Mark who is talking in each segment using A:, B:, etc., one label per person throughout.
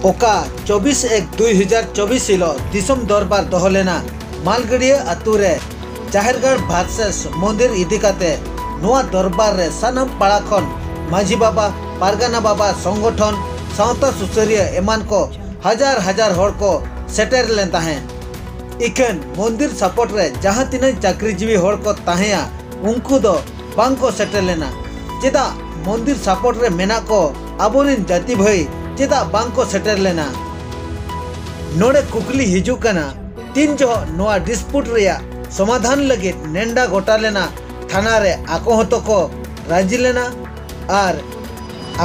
A: ᱚᱠᱟ 24 ᱮᱠ 2024 ᱦᱤᱞᱳᱜ ᱫᱤᱥᱚᱢ ᱫᱚᱨᱵᱟᱨ ᱫᱚᱦᱚ ᱞᱮᱱᱟ ᱢᱟᱞᱜᱟᱹᱰᱤᱭᱟᱹ ᱟᱛᱳ ᱨᱮ ᱡᱟᱦᱮᱨᱜᱟᱲ ᱵᱷᱟᱨᱥᱮᱥ ᱢᱚᱱᱫᱤᱨ ᱤᱫᱤ ᱠᱟᱛᱮ ᱱᱚᱣᱟ ᱫᱚᱨᱵᱟᱨ ᱨᱮ ᱥᱟᱱᱟᱢ ᱯᱟᱲᱟ ᱠᱷᱚᱱ ᱢᱟᱹᱡᱷᱤ ᱵᱟᱵᱟ ᱯᱟᱨᱜᱟᱱᱟ ᱵᱟᱵᱟ ᱥᱚᱝᱜᱚᱴᱷᱚᱱ ᱥᱟᱶᱛᱟ ᱥᱩᱥᱟᱹᱨᱤᱭᱟᱹ ᱮᱢᱟᱱ ᱠᱚ ᱦᱟᱡᱟᱨ ᱦᱟᱡᱟᱨ ᱦᱚᱲ ᱠᱚ ᱥᱮᱴᱮᱨ ᱞᱮᱱ ᱛᱟᱦᱮᱸᱫ ᱤᱠᱷᱟᱹᱱ ᱢᱚᱱᱫᱤᱨ ᱥᱟᱯᱚᱴ ᱨᱮ ᱡᱟᱦᱟᱸ ᱛᱤᱱᱟᱹᱜ ᱪᱟᱹᱠᱨᱤᱡᱤᱵᱤ ᱦᱚᱲ ᱠᱚ ᱛᱟᱦᱮᱸᱭᱟ ᱩᱱᱠᱩ ᱫᱚ ᱵᱟᱝ ᱠᱚ ᱥᱮᱴᱮᱨ ᱞᱮᱱᱟ ᱪᱮᱫᱟᱜ ᱢᱚᱱᱫᱤᱨ ᱥᱟᱯᱚᱴ ᱨᱮ ᱢᱮᱱᱟᱜ ᱠᱚ ᱟᱵᱚ ᱨᱤᱱ ᱡᱟᱹᱛᱤ ᱵᱷᱟᱹᱭ ᱪᱮᱫᱟᱜ ᱵᱟᱝ ᱠᱚ ᱥᱮᱴᱮᱨ ᱞᱮᱱᱟ ᱱᱚᱰᱮ ᱠᱩᱠᱞᱤ ᱦᱤᱡᱩᱜ ᱠᱟᱱᱟ ᱛᱤᱱ ᱡᱚᱦᱚᱜ ᱱᱚᱣᱟ ᱰᱤᱥᱯᱩᱴ ᱨᱮᱭᱟᱜ ᱥᱚᱢᱟᱫᱷᱟᱱ ᱞᱟᱹᱜᱤᱫ ᱱᱮᱱᱰᱟ ᱜᱚᱴᱟ ᱞᱮᱱᱟ ᱛᱷᱟᱱᱟ ᱨᱮ ᱟᱠᱚ ᱦᱚᱸ ᱛᱚ ᱠᱚ ᱨᱟᱹᱡᱤ ᱞᱮᱱᱟ ᱟᱨ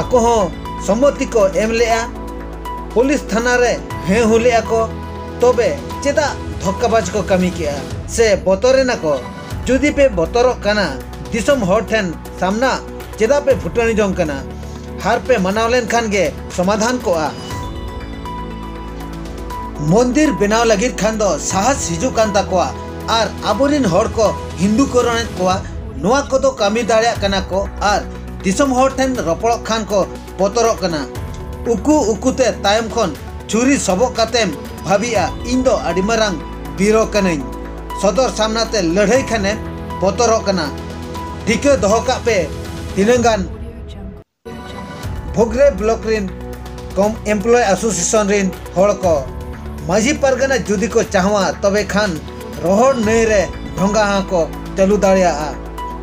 A: ᱟᱠᱚ ᱦᱚᱸ ᱥᱚᱢᱢᱚᱛᱤ ᱠᱚ ᱮᱢ ᱞᱮᱫᱼᱟ ᱯᱩᱞᱤᱥ ᱛᱷᱟᱱᱟ ᱨᱮ ᱦᱮᱸ ᱦᱩ ᱞᱮᱫᱼᱟ ᱠᱚ ᱛᱚᱵᱮ ᱪᱮᱫᱟᱜ ᱫᱷᱚᱠᱠᱟᱵᱟᱡᱽ ᱠᱚ ᱠᱟᱹᱢᱤ ᱠᱮᱫᱼᱟ ᱥᱮ ᱵᱚᱛᱚᱨ ᱮᱱᱟ ᱠᱚ ᱡᱩᱫᱤ ᱯᱮ ᱵᱚᱛᱚᱨᱚᱜ ᱠᱟᱱᱟ ᱫᱤᱥᱚᱢ ᱦᱚᱲ ᱴᱷᱮᱱ ᱥᱟᱢᱱᱟ ᱪᱮᱫᱟᱜ ᱯᱮ ᱯᱷᱩᱴᱟᱹᱱᱤ ᱡᱚᱝ ᱠᱟᱱᱟ ᱦᱟᱨ ᱯᱮ ᱢᱟᱱᱟᱣ ᱞᱮᱱᱠᱷᱟᱱ ᱜᱮ ᱥᱚᱢᱟᱫᱷᱟᱱ ᱠᱚᱜᱼᱟ ᱢᱚᱱᱫᱤᱨ ᱵᱮᱱᱟᱣ ᱞᱟᱹᱜᱤᱫ ᱠᱷᱟᱱ ᱫᱚ ᱥᱟᱦᱟᱥ ᱦᱤᱡᱩᱜ ᱠᱟᱱ ᱛᱟᱠᱚᱣᱟ ᱟᱨ ᱟᱵᱚᱨᱤᱱ ᱦᱚᱲ ᱠᱚ ᱦᱤᱱᱫᱩ ᱠᱚᱨᱚᱱᱮᱫ ᱠᱚᱣᱟ ᱱᱚᱣᱟ ᱠᱚᱫᱚ ᱠᱟᱹᱢᱤ ᱫᱟᱲᱮᱭᱟᱜ ᱠᱟᱱᱟ ᱠᱚ ᱟᱨ ᱫᱤᱥᱚᱢ ᱦᱚᱲ ᱴᱷᱮᱱ ᱨᱚᱯᱚᱲᱚᱜ ᱠᱷᱟᱱ ᱠᱚ ᱵᱚᱛᱚᱨᱚᱜ ᱠᱟᱱᱟ ᱩᱠᱩ ᱩᱠᱩᱛᱮ ᱛᱟᱭᱚᱢ ᱠᱷᱚᱱ ᱪᱷᱩᱨᱤ ᱥᱚᱵᱚᱜ ᱠᱟᱛᱮᱢ ᱵᱷᱟᱹᱵᱤᱜᱼᱟ ᱤᱧ ᱫᱚ ᱟᱹᱰᱤ ᱢᱟᱨᱟᱝ ᱵᱤᱨᱚ ᱠᱟᱹᱱᱟᱹᱧ ᱥᱚᱫᱚᱨ ᱥᱟᱢᱱᱟᱛᱮ ᱞᱟᱹᱲᱦᱟᱹᱭ ᱠᱷᱟᱱᱮᱢ ᱵᱚᱛᱚᱨᱚᱜ ᱠᱟᱱᱟ ᱴᱷᱤᱠᱟᱹ ᱫᱚᱦᱚ ᱠᱟᱜ ᱯᱮ ᱛᱤᱱᱟᱹᱝ ᱜᱟᱱ ᱵᱷᱚᱜᱽᱨᱮ ᱵᱞᱚᱠ ᱨᱤᱱ ᱠᱚᱢ ᱮᱢᱯᱞᱚᱭ ᱮᱥᱳᱥᱤᱭᱮᱥᱚᱱ ᱨᱤᱱ ᱦᱚᱲ ᱠᱚ ᱢᱟᱹᱡᱷᱤ ᱯᱟᱨᱜᱟᱱᱟ ᱡᱩᱫᱤ ᱠᱚ ᱪᱟᱦᱣᱟ ᱛᱚᱵᱮ ᱠᱷᱟᱱ ᱨᱚᱦᱚᱲ ᱱᱟᱹᱭ ᱨᱮ ᱰᱷᱚᱸᱜᱟ ᱦᱚᱸ ᱠᱚ ᱪᱟᱹᱞᱩ ᱫᱟᱲᱮᱭᱟᱜᱼᱟ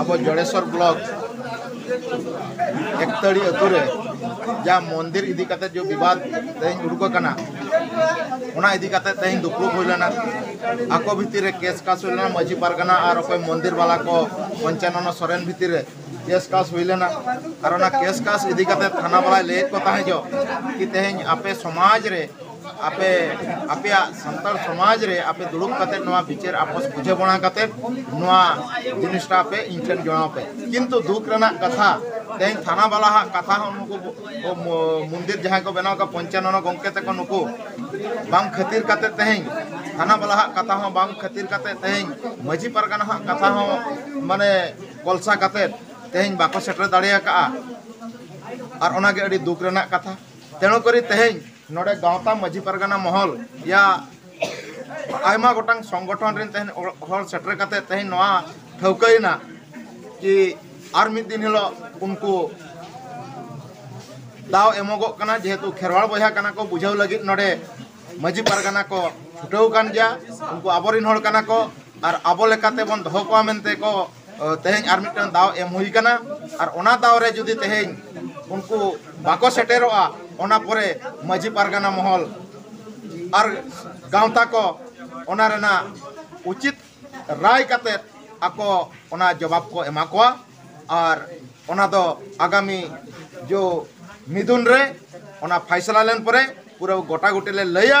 A: ᱟᱵᱚ ᱡᱚᱲᱮᱥᱚᱨ ᱵᱞᱚᱠ ᱮᱠᱛᱟᱹᱲᱤ ᱟᱹᱛᱩ ᱨᱮ ᱡᱟ ᱢᱚᱱᱫᱤᱨ ᱤᱫᱤ ᱠᱟᱛᱮ ᱡᱚ ᱵᱤᱵᱟᱫ ᱛᱮᱦᱮᱧ ᱩᱰᱩᱠ ᱟᱠᱟᱱᱟ ᱚᱱᱟ ᱤᱫᱤ ᱠᱟᱛᱮ ᱛᱮᱦᱮᱧ ᱫᱩᱯᱲᱩᱵ ᱦᱩᱭ ᱞᱮᱱᱟ ᱟᱠᱚ ᱵᱷᱤᱛᱤᱨ ᱨᱮ ᱠᱮᱥ ᱠᱟᱥ ᱦᱩᱭ ᱞᱮᱱᱟ ᱢᱟᱹᱡᱷᱤ ᱯᱟᱨᱜᱟᱱᱟ ᱟᱨ ᱚᱠᱚᱭ ᱢᱚᱱᱫᱤᱨ ᱵᱟᱞᱟ ᱠᱚ ᱯᱚᱧᱪᱟᱱᱚᱱᱚ ᱥᱚᱨᱮᱱ ᱵᱷᱤᱛᱤᱨ ᱨᱮ ᱠᱮᱥ ᱠᱟᱥ ᱦᱩᱭ ᱞᱮᱱᱟ ᱟᱨ ᱚᱱᱟ ᱠᱮᱥ ᱠᱟᱥ ᱤᱫᱤ ᱠᱟᱛᱮ ᱛᱷᱟᱱᱟ ᱵᱟᱞᱟᱭ ᱞᱟᱹᱭᱮᱫ ᱠᱚ ᱛᱟᱦᱮᱸ ᱡᱚ ᱠᱤ ᱛᱮᱦᱮᱧ ᱟᱯᱮ ᱥᱚᱢᱟᱡᱽ ᱨᱮ ᱟᱯᱮ ᱟᱯᱮᱭᱟᱜ ᱥᱟᱱᱛᱟᱲ ᱥᱚᱢᱟᱡᱽ ᱨᱮ ᱟᱯᱮ ᱫᱩᱲᱩᱵ ᱠᱟᱛᱮ ᱱᱚᱣᱟ ᱵᱤᱪᱟᱹᱨ ᱟᱯᱚᱥ ᱵᱩᱡᱷᱟᱹᱣᱱᱟ ᱠᱟᱛᱮ ᱱᱚᱣᱟ ᱡᱤᱱᱤᱥᱴᱟ ᱯᱮ ᱤᱧ ᱴᱷᱮᱱ ᱡᱚᱲᱟᱣ ᱯᱮ ᱠᱤᱱᱛᱩ ᱫᱩᱠ ᱨᱮᱱᱟᱜ ᱠᱟᱛᱷᱟ ᱛᱮᱦᱮᱧ ᱛᱷᱟᱱᱟ ᱵᱟᱞᱟ ᱦᱟᱜ ᱠᱟᱛᱷᱟ ᱦᱚᱸ ᱱᱩᱠᱩ ᱢᱚᱱᱫᱤᱨ ᱡᱟᱦᱟᱸᱭ ᱠᱚ ᱵᱮᱱᱟᱣ ᱠᱟᱜ ᱯᱚᱧᱪᱟᱱᱚᱱ ᱜᱚᱢᱠᱮ ᱛᱮᱠᱚ ᱱᱩᱠᱩ ᱵᱟᱝ ᱠᱷᱟᱹᱛᱤᱨ ᱠᱟᱛᱮ ᱛᱮᱦᱮᱧ ᱛᱷᱟᱱᱟ ᱵᱟᱞᱟ ᱦᱟᱜ ᱠᱟᱛᱷᱟ ᱦᱚᱸ ᱵᱟᱝ ᱠᱷᱟᱹᱛᱤᱨ ᱠᱟᱛᱮ ᱛᱮᱦᱮᱧ ᱢᱟᱹᱡᱷᱤ ᱯᱟᱨᱜᱟᱱᱟ ᱦᱟᱜ ᱠᱟᱛᱷᱟ ᱦᱚᱸ ᱢᱟᱱᱮ ᱠᱚᱞᱥᱟ ᱠᱟᱛᱮ ᱛᱮᱦᱮᱧ ᱵᱟᱠᱚ ᱥᱮᱴᱮᱨ ᱫᱟᱲᱮ ᱟᱠᱟᱜᱼᱟ ᱟᱨ ᱚᱱᱟᱜᱮ ᱟᱹᱰᱤ ᱫᱩᱠ ᱨᱮᱱᱟᱜ ᱠᱟᱛᱷᱟ ᱛᱮᱬᱩ ᱠᱚᱨᱮ ᱛᱮᱦᱮᱧ ᱱᱚᱰᱮ ᱜᱟᱶᱛᱟ ᱢᱟᱹᱡᱷᱤ ᱯᱟᱨᱜᱟᱱᱟ ᱢᱚᱦᱚᱞ ᱭᱟ ᱟᱭᱢᱟ ᱜᱚᱴᱟᱝ ᱥᱚᱝᱜᱚᱴᱷᱚᱱ ᱨᱮᱱ ᱛᱮᱦᱮᱧ ᱦᱚᱲ ᱥᱮᱴᱮᱨ ᱠᱟᱛᱮ ᱛᱮᱦᱮᱧ ᱱᱚᱣᱟ ᱴᱷᱟᱹᱣᱠᱟᱹᱭᱮᱱᱟ ᱠᱤ ᱟᱨ ᱢᱤᱫ ᱫᱤᱱ ᱦᱤᱞᱳᱜ ᱩᱱᱠᱩ ᱫᱟᱣ ᱮᱢᱚᱜᱚᱜ ᱠᱟᱱᱟ ᱡᱮᱦᱮᱛᱩ ᱠᱷᱮᱨᱣᱟᱲ ᱵᱚᱭᱦᱟ ᱠᱟᱱᱟ ᱠᱚ ᱵᱩᱡᱷᱟᱹᱣ ᱞᱟᱹᱜᱤᱫ ᱱᱚᱰᱮ ᱢᱟᱹᱡᱷᱤ ᱯᱟᱨᱜᱟᱱᱟ ᱠᱚ ᱪᱷᱩᱴᱟᱹᱣ ᱠᱟᱱ ᱜᱮᱭᱟ ᱩᱱᱠᱩ ᱟᱵᱚᱨᱮᱱ ᱦᱚᱲ ᱠᱟᱱᱟ ᱠᱚ ᱟᱨ ᱟᱵᱚ ᱞᱮᱠᱟᱛᱮ ᱵᱚᱱ ᱫᱚᱦᱚ ᱠᱚᱣᱟ ᱢᱮᱱᱛᱮ ᱠᱚ ᱛᱮᱦᱮᱧ ᱟᱨ ᱢᱤᱫᱴᱟᱝ ᱫᱟᱣ ᱮᱢ ᱦᱩᱭ ᱠᱟᱱᱟ ᱟᱨ ᱚᱱᱟ ᱫᱟᱣ ᱨᱮ ᱡᱩᱫᱤ ᱛᱮᱦᱮᱧ ᱩᱱᱠᱩ ᱵᱟᱠᱚ ᱥᱮᱴᱮᱨᱚᱜᱼᱟ ᱚᱱᱟ ᱯᱚᱨᱮ ᱢᱟᱹᱡᱷᱤ ᱯᱟᱨᱜᱟᱱᱟ ᱢᱚᱦᱚᱞ ᱟᱨ ᱜᱟᱶᱛᱟ ᱠᱚ ᱚᱱᱟ ᱨᱮᱱᱟᱜ ᱩᱪᱤᱛ ᱨᱟᱭ ᱠᱟᱛᱮ ᱟᱠᱚ ᱚᱱᱟ ᱡᱚᱵᱟᱵ ᱠᱚ ᱮᱢᱟ ᱠᱚᱣᱟ ᱟᱨ ᱚᱱᱟ ᱫᱚ ᱟᱜᱟᱢᱤ ᱡᱚ ᱢᱤᱫᱩᱱ ᱨᱮ ᱚᱱᱟ ᱯᱷᱟᱭᱥᱟᱞᱟ ᱞᱮᱱ ᱯᱚᱨᱮ ᱯᱩᱨᱟᱹ ᱜᱚᱴᱟ ᱜᱩᱴᱤ ᱞᱮ ᱞᱟᱹᱭᱟ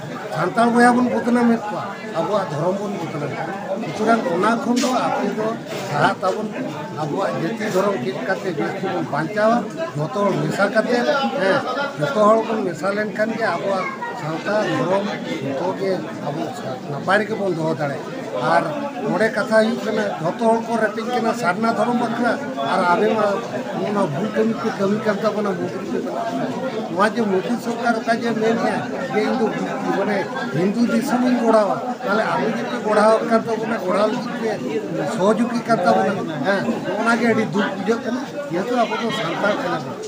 A: ᱥᱟᱱᱛᱟᱲ ᱵᱚᱭᱦᱟ ᱵᱚᱱ ᱵᱚᱫᱱᱟᱢᱮᱫ ᱠᱚᱣᱟ ᱟᱵᱚᱣᱟᱜ ᱫᱷᱚᱨᱚᱢ ᱵᱚᱱ ᱵᱚᱫᱱᱟᱢᱮᱫ ᱠᱚᱣᱟ ᱥᱩᱛᱚᱨᱟᱝ ᱚᱱᱟ ᱠᱷᱚᱱ ᱫᱚ ᱟᱯᱮ ᱫᱚ ᱥᱟᱦᱟᱜ ᱛᱟᱵᱚᱱ ᱯᱮ ᱟᱵᱚᱣᱟᱜ ᱡᱟᱹᱛᱤ ᱫᱷᱚᱨᱚᱢ ᱪᱮᱫ ᱠᱟᱛᱮ ᱡᱟᱹᱛᱤ ᱵᱚᱱ ᱵᱟᱧᱪᱟᱣᱟ ᱡᱚᱛᱚ ᱦᱚᱲ ᱢᱮᱥᱟ ᱠᱟᱛᱮ ᱦᱮᱸ ᱡᱚᱛᱚ ᱦᱚᱲ ᱵᱚᱱ ᱢᱮᱥᱟ ᱞᱮᱱᱠᱷᱟᱱ ᱜᱮ ᱟᱵᱚᱣᱟᱜ ᱥᱟᱶᱛᱟ ᱫᱷᱚᱨᱚᱢ ᱡᱚᱛᱚ ᱜᱮ ᱟᱵᱚ ᱱᱟᱯᱟᱭ ᱨᱮᱜᱮ ᱵᱚᱱ ᱫᱚᱦᱚ ᱫᱟᱲᱮᱭᱟᱜᱼᱟ ᱟᱨ ᱱᱚᱰᱮ ᱠᱟᱛᱷᱟ ᱦᱩᱭᱩᱜ ᱠᱟᱱᱟ ᱡᱚᱛᱚ ᱦᱚᱲ ᱠᱚ ᱨᱮᱯᱮᱡ ᱠᱟᱱᱟ ᱥᱟᱨᱱᱟ ᱫᱷᱚᱨᱚᱢ ᱵᱟᱠᱷᱨᱟ ᱟᱨ ᱟᱵᱮ ᱢᱟ ᱚᱱᱟ ᱵᱷᱩᱞ ᱠᱟᱹᱢᱤ ᱠᱚ ᱠᱟᱹᱢᱤ ᱠᱟᱱ ᱛᱟᱵᱚᱱᱟ ᱢᱩᱫᱽᱨᱤ ᱠᱚ ᱵᱮᱱᱟᱜ ᱠᱟᱱᱟ ᱱᱚᱣᱟ ᱡᱮ ᱢᱳᱫᱤ ᱥᱚᱨᱠᱟᱨ ᱚᱠᱟ ᱡᱮ ᱢᱮᱱᱮᱫᱼᱟ ᱡᱮ ᱤᱧ ᱫᱚ ᱢᱟᱱᱮ ᱦᱤᱱᱫᱩ ᱫᱤᱥᱚᱢ ᱤᱧ ᱜᱚᱲᱟᱣᱟ ᱛᱟᱦᱚᱞᱮ ᱟᱵᱚ ᱡᱩᱫᱤ ᱜᱚᱲᱟᱣ ᱠᱟᱱ ᱛᱟᱵᱚᱱᱟ ᱜᱚᱲᱟᱣ ᱞᱟᱹᱜᱤᱫ ᱛᱮ ᱥᱚᱦᱚᱡᱳᱜᱤ ᱠᱟᱱ ᱛᱟᱵᱚᱱᱟ ᱦᱮᱸ ᱚᱱᱟᱜᱮ ᱟᱹᱰᱤ ᱫᱩᱠ ᱵᱩᱡᱷᱟᱹᱜ ᱠᱟᱱᱟ ᱡᱮᱦᱮᱛᱩ ᱟᱵᱚ ᱫᱚ ᱥᱟᱱᱛᱟᱲ ᱠᱟᱱᱟ ᱵᱚᱱ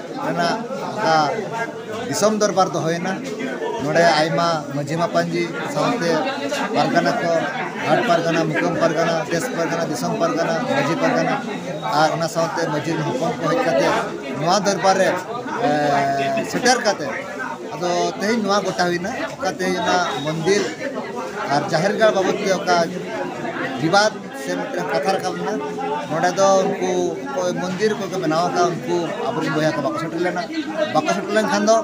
A: ᱨᱮᱱᱟᱜ ᱚᱱᱠᱟ ᱫᱤᱥᱚᱢ ᱫᱚᱨᱵᱟᱨ ᱫᱚ ᱦᱩᱭᱮᱱᱟ ᱱᱚᱰᱮ ᱟᱭᱢᱟ ᱢᱟᱹᱡᱷᱤ ᱢᱟᱯᱟᱧᱡᱤ ᱥᱟᱶᱛᱮ ᱯᱟᱨᱜᱟᱱᱟ ᱠᱚ ᱦᱟᱴ ᱯᱟᱨᱜᱟᱱᱟ ᱢᱩᱠᱟᱹᱢ ᱯᱟᱨᱜᱟᱱᱟ ᱫᱮᱥ ᱯᱟᱨᱜᱟᱱᱟ ᱫᱤᱥᱚᱢ ᱯᱟᱨᱜᱟᱱᱟ ᱢᱟᱹᱡᱷᱤ ᱯᱟᱨᱜᱟᱱᱟ ᱟᱨ ᱚᱱᱟ ᱥᱟᱶᱛᱮ ᱢᱟᱹᱡᱷᱤ ᱦᱚᱯᱚᱱ ᱠᱚ ᱦᱮᱡ ᱠᱟᱛᱮ ᱱᱚᱣᱟ ᱫᱚᱨᱵᱟᱨ ᱨᱮ ᱥᱮᱴᱮᱨ ᱠᱟᱛᱮ ᱟᱫᱚ ᱛᱮᱦᱮᱧ ᱱᱚᱣᱟ ᱜᱚᱴᱟ ᱦᱩᱭᱱᱟ ᱚᱠᱟ ᱛᱮᱦᱮᱧ ᱚᱱᱟ ᱢᱚᱱᱫᱤᱨ ᱟᱨ ᱡᱟᱦᱮᱨ ᱜᱟᱲ ᱵᱟᱵᱚᱫ ᱛᱮ ᱚᱠᱟ ᱵᱤᱵᱟᱫ ᱥᱮ ᱢᱤᱫᱴᱟᱝ ᱠᱟᱛᱷᱟ ᱨᱟᱠᱟᱵ ᱞᱮᱱᱟ ᱱᱚᱰᱮ ᱫᱚ ᱩᱱᱠᱩ ᱚᱠᱚᱭ ᱢᱚᱱᱫᱤᱨ ᱠᱚᱠᱚ ᱵᱮᱱᱟᱣ ᱟᱠᱟᱫ ᱩᱱᱠᱩ ᱟᱵᱚᱨᱮᱱ ᱵᱚᱭᱦᱟ ᱠᱚ ᱵᱟᱠᱚ ᱥᱮᱴᱮᱨ ᱞᱮᱱᱟ ᱵᱟᱠᱚ ᱥᱮᱴᱮᱨ ᱞᱮᱱᱠᱷᱟᱱ ᱫᱚ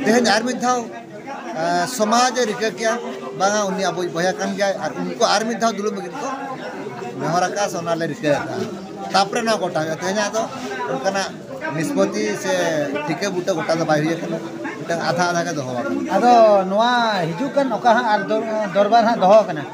A: ᱛᱮᱦᱮᱧ ᱟᱨ ᱢᱤᱫ ᱫᱷᱟᱣ ᱥᱚᱢᱟᱡᱽ ᱮ ᱨᱤᱠᱟᱹ ᱠᱮᱭᱟ ᱵᱟᱝᱟ ᱩᱱᱤ ᱟᱵᱚᱭ ᱵᱚᱭᱦᱟ ᱠᱟᱱ ᱜᱮᱭᱟᱭ ᱟᱨ ᱩᱱᱠᱩ ᱟᱨ ᱢᱤᱫ ᱫᱷᱟᱣ ᱫᱩᱲᱩᱵ ᱞᱟᱹᱜᱤᱫ ᱠᱚ ᱱᱮᱦᱚᱨ ᱟᱠᱟᱫᱼᱟ ᱥᱮ ᱚᱱᱟᱞᱮ ᱨᱤᱠᱟᱹ ᱟᱠᱟᱫᱼᱟ ᱛᱟᱯᱚᱨᱮ ᱱᱚᱣᱟ ᱜᱚᱴᱟ ᱦᱩᱭᱩᱜᱼᱟ ᱛᱮᱦᱮᱧᱟᱜ ᱫᱚ ᱚᱱᱠᱟᱱᱟᱜ ᱱᱤᱥᱯᱚᱛᱤ ᱥᱮ ᱴᱷᱤᱠᱟᱹ ᱵᱩᱴᱟᱹ ᱜᱚᱴᱟ ᱫᱚ ᱵᱟᱭ ᱦᱩᱭ ᱟᱠᱟᱱᱟ ᱢᱤᱫᱴᱟᱝ ᱟᱫᱷᱟ ᱟᱫᱷᱟ ᱜᱮ ᱫᱚᱦᱚ ᱟᱠᱟᱱᱟ ᱟᱫᱚ ᱱᱚᱣᱟ ᱦᱤᱡᱩᱜ ᱠᱟᱱ ᱚᱠᱟ ᱦᱟᱸᱜ ᱫᱚᱨᱵᱟᱨ ᱦᱟᱸᱜ ᱫᱚᱦᱚ ᱟᱠᱟᱱᱟ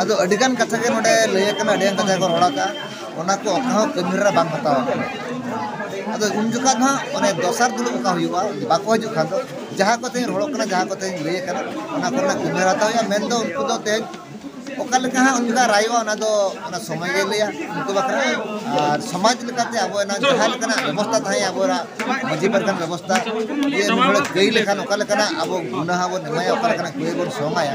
A: ᱟᱫᱚ ᱟᱹᱰᱤ ᱜᱟᱱ ᱠᱟᱛᱷᱟ ᱜᱮ ᱱᱚᱰᱮ ᱞᱟᱹᱭ ᱟᱠᱟᱱᱟ ᱟᱹᱰᱤ ᱜᱟᱱ ᱠᱟᱛᱷᱟ ᱠᱚ ᱨᱚᱲ ᱟᱠᱟᱜᱼᱟ ᱚᱱᱟ ᱠᱚ ᱚᱠᱟ ᱦᱚᱸ ᱠᱟᱹᱢᱤ ᱨᱮ ᱵᱟᱝ ᱦᱟᱛᱟᱣ ᱟᱠᱟᱱᱟ ᱟᱫᱚ ᱩᱱ ᱡᱚᱠᱷᱟᱡ ᱫᱚ ᱦᱟᱸᱜ ᱚᱱᱮ ᱫᱚᱥᱟᱨ ᱫᱩᱲᱩᱵ ᱚᱠᱟ ᱦᱩᱭᱩᱜᱼᱟ ᱵᱟᱠᱚ ᱦᱤᱡᱩᱜ ᱠᱷᱟᱱ ᱫᱚ ᱡᱟᱦᱟᱸ ᱠᱚ ᱛᱮᱦᱮᱧ ᱨᱚᱲᱚᱜ ᱠᱟᱱᱟ ᱡᱟᱦᱟᱸ ᱠᱚ ᱛᱮᱦᱮᱧ ᱞᱟᱹᱭ ᱟᱠᱟᱱᱟ ᱚᱱᱟ ᱠᱚᱨᱮᱱᱟᱜ ᱠᱟᱹᱢᱤ ᱦᱚᱨᱟ ᱦᱟᱛᱟᱣ ᱦᱩᱭᱩᱜᱼᱟ ᱢᱮᱱ ᱫᱚ ᱩᱱᱠᱩ ᱫᱚ ᱛᱮᱦᱮᱧ ᱚᱠᱟ ᱞᱮᱠᱟ ᱦᱟᱸᱜ ᱩᱱ ᱡᱚᱠᱷᱟᱡ ᱨᱟᱭᱚᱜᱼᱟ ᱚᱱᱟ ᱫᱚ ᱚᱱᱟ ᱥᱚᱢᱚᱭ ᱜᱮ ᱞᱟᱹᱭᱟ ᱩᱱᱠᱩ ᱵᱟᱠᱷᱨᱟ ᱟᱨ ᱥᱚᱢᱟᱡᱽ ᱞᱮᱠᱟᱛᱮ ᱟᱵᱚ ᱚᱱᱟ ᱡᱟᱦᱟᱸ ᱞᱮᱠᱟᱱᱟᱜ ᱵᱮᱵᱚᱥᱛᱷᱟ ᱛᱟᱦᱮᱸ ᱟᱵᱚᱣᱟᱜ ᱢᱟᱹᱡᱷᱤ ᱯᱟᱨᱜᱟᱱ ᱵᱮᱵᱚᱥᱛᱷᱟ ᱡᱮ ᱱᱩᱭ ᱦᱚᱲᱮ ᱠᱟᱹᱭ ᱞᱮᱠᱷᱟᱱ ᱚᱠᱟ ᱞᱮᱠᱟᱱᱟᱜ ᱟᱵᱚ ᱜᱩᱱᱟᱦᱟ ᱵᱚᱱ ᱮᱢᱟᱭᱟ ᱚᱠᱟ ᱞᱮᱠᱟᱱᱟᱜ ᱠᱟᱹᱭ ᱵᱚᱱ ᱥᱚᱝᱟᱭᱟ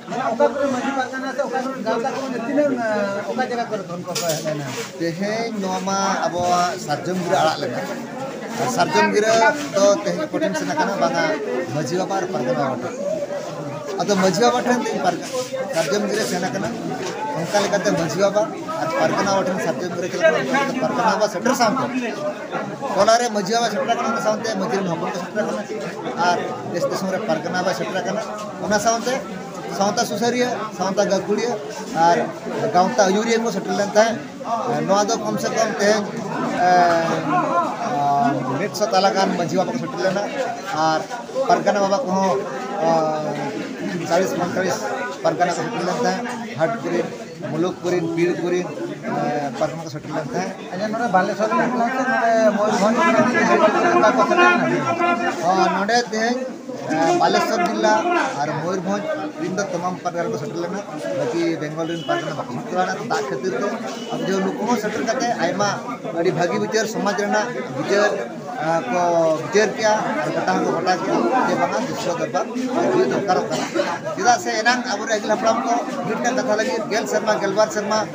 A: ᱛᱮᱦᱮᱧ ᱱᱚᱣᱟ ᱢᱟ ᱟᱵᱚᱣᱟᱜ ᱥᱟᱨᱡᱚᱢ ᱜᱤᱨᱟᱹ ᱟᱲᱟᱜ ᱞᱮᱱᱟ ᱥᱟᱨᱡᱚᱢ ᱜᱤᱨᱟᱹ ᱫᱚ ᱛᱮᱦᱮᱧ ᱠᱚᱴᱷᱮᱱ ᱥᱮᱱ ᱟᱠᱟᱱᱟ ᱵᱟᱝᱟ ᱢᱟᱹᱡᱷᱤ ᱵᱟᱵᱟ ᱟᱨ ᱯᱟᱨᱜᱟᱱᱟ ᱵᱟᱵᱟ ᱴᱷᱮᱱ ᱟᱫᱚ ᱢᱟᱹᱡᱷᱤ ᱵᱟᱵᱟ ᱴᱷᱮᱱ ᱛᱮᱦᱮᱧ ᱥᱟᱨᱡᱚᱢ ᱜᱤᱨᱟᱹ ᱥᱮᱱ ᱟᱠᱟᱱᱟ ᱚᱱᱠᱟ ᱞᱮᱠᱟᱛᱮ ᱢᱟᱹᱡᱷᱤ ᱵᱟᱵᱟ ᱟᱨ ᱯᱟᱨᱜᱟᱱᱟ ᱵᱟᱵᱟ ᱴᱷᱮᱱ ᱥᱟᱨᱡᱚᱢ ᱜᱤᱨᱟᱹ ᱪᱟᱞᱟᱜ ᱠᱟᱱᱟ ᱚᱱᱠᱟ ᱞᱮᱠᱟᱛᱮ ᱯᱟᱨᱜᱟᱱᱟ ᱵᱟᱵᱟ ᱥᱮᱴᱮᱨ ᱥᱟᱶᱛᱮ ᱚᱱᱟᱨᱮ ᱢᱟᱹᱡᱷᱤ ᱵᱟᱵᱟ ᱥᱮᱴᱮᱨ ᱟᱠᱟᱱᱟ ᱚᱱᱟ ᱥᱟᱶᱛᱮ ᱢᱟᱹᱡᱷᱤ ᱨᱮᱱ ᱦᱚᱯᱚᱱ ᱠᱚ ᱥᱮᱴᱮᱨ ᱟᱠᱟᱱᱟ ᱟᱨ ᱫᱮᱥ ᱫᱤᱥᱚᱢ ᱨᱮ ᱯᱟᱨᱜᱟᱱᱟ ᱵᱟᱵᱟᱭ ᱥᱮᱴᱮᱨ ᱟᱠᱟᱱᱟ ᱚᱱᱟ ᱥᱟᱶᱛᱮ ᱥᱟᱶᱛᱟ ᱥᱩᱥᱟᱹᱨᱤᱭᱟᱹ ᱥᱟᱶᱛᱟ ᱜᱟᱹᱠᱷᱩᱲᱤᱭᱟᱹ ᱟᱨ ᱜᱟᱶᱛᱟ ᱟᱹᱭᱩᱨᱤᱭᱟᱹ ᱠᱚ ᱥᱮᱴᱮᱨ ᱞᱮᱱ ᱛᱟᱦᱮᱸᱫ ᱱᱚᱣᱟ ᱫᱚ ᱠᱚᱢ ᱥᱮ ᱠᱚᱢ ᱛᱮᱦᱮᱧ ᱢᱤᱫ ᱥᱚ ᱛᱟᱞᱟ ᱜᱟᱱ ᱢᱟᱹᱡᱷᱤ ᱵᱟᱵᱟ ᱠᱚ ᱥᱮᱴᱮᱨ ᱞᱮᱱᱟ ᱟᱨ ᱯᱟᱨᱜᱟᱱᱟ ᱵᱟᱵᱟ ᱠᱚᱦᱚᱸ ᱪᱟᱞᱤᱥ ᱯᱚᱸᱭᱛᱟᱞᱤᱥ ᱯᱟᱨᱜᱟᱱᱟ ᱠᱚ ᱥᱮᱴᱮᱨ ᱞᱮᱱ ᱛᱟᱦᱮᱸᱫ ᱦᱟᱴ ᱠᱚᱨᱮᱱ ᱢᱩᱞᱩᱠ ᱠᱚᱨᱮᱱ ᱯᱤᱲ ᱠᱚᱨᱮᱱ ᱯᱟᱨᱜᱟᱱᱟ ᱠᱚ ᱥᱮᱴᱮᱨ ᱞᱮᱱ ᱛᱟᱦᱮᱸᱫ ᱟᱪᱪᱷᱟ ᱱᱚᱰᱮ ᱵᱟᱞᱮᱥᱚᱨ ᱨᱮᱱ ᱠᱟᱱᱟ ᱥᱮ ᱱᱚᱰᱮ ᱢᱚᱭᱩᱨᱵᱷᱚᱸᱡᱽ ᱱᱚᱰᱮ ᱛᱮᱦᱮᱧ ᱵᱟᱞᱮᱥᱚᱨ ᱡᱤᱞᱟ ᱟᱨ ᱢᱚᱭᱩᱨᱵᱷᱚᱸᱡᱽ ᱨᱤᱱ ᱫᱚ ᱛᱟᱢᱟᱢ ᱯᱟᱨᱜᱟᱱᱟ ᱠᱚ ᱥᱮᱴᱮᱨ ᱞᱮᱱᱟ ᱵᱟᱹᱠᱤ ᱵᱮᱝᱜᱚᱞ ᱨᱤᱱ ᱯᱟᱨᱜᱟᱱᱟ ᱵᱟᱠᱚ ᱥᱮᱴᱮᱨ ᱫᱟᱲᱮᱭᱟᱜ ᱛᱚ ᱫᱟᱜ ᱠᱷᱟᱹᱛᱤᱨ ᱛᱮ ᱟᱫᱚ ᱡᱮ ᱱᱩᱠᱩ ᱦᱚᱸ ᱥᱮᱴᱮᱨ ᱠᱟᱛᱮ ᱟᱭᱢᱟ ᱟᱹᱰᱤ ᱵᱷᱟᱹᱜᱤ ᱵᱤᱪᱟᱹᱨ ᱥᱚᱢᱟᱡᱽ ᱨᱮᱱᱟᱜ ᱵᱤᱪᱟᱹᱨ ᱠᱚ ᱵᱤᱪᱟᱹᱨ ᱠᱮᱜᱼᱟ ᱟᱨ ᱜᱚᱴᱟ ᱦᱚᱸᱠᱚ ᱜᱚᱴᱟ ᱠᱮᱜᱼᱟ ᱡᱮ ᱵᱟᱝᱟ ᱵᱤᱥᱥᱚ ᱫᱚᱨᱵᱟᱨ ᱦᱩᱭ ᱫᱚᱨᱠᱟᱨᱚᱜ ᱠᱟᱱᱟ ᱪᱮᱫᱟᱜ ᱥᱮ ᱮᱱᱟᱝ ᱟᱵᱚᱨᱮᱱ ᱟᱹᱜᱤᱞ ᱦᱟᱯᱲᱟᱢ ᱠᱚ ᱢᱤᱫᱴᱟᱝ ᱠᱟᱛᱷᱟ ᱞᱟᱹᱜᱤᱫ ᱜᱮᱞ ᱥᱮᱨᱢᱟ ᱜᱮᱞᱵᱟᱨ ᱥᱮᱨᱢᱟ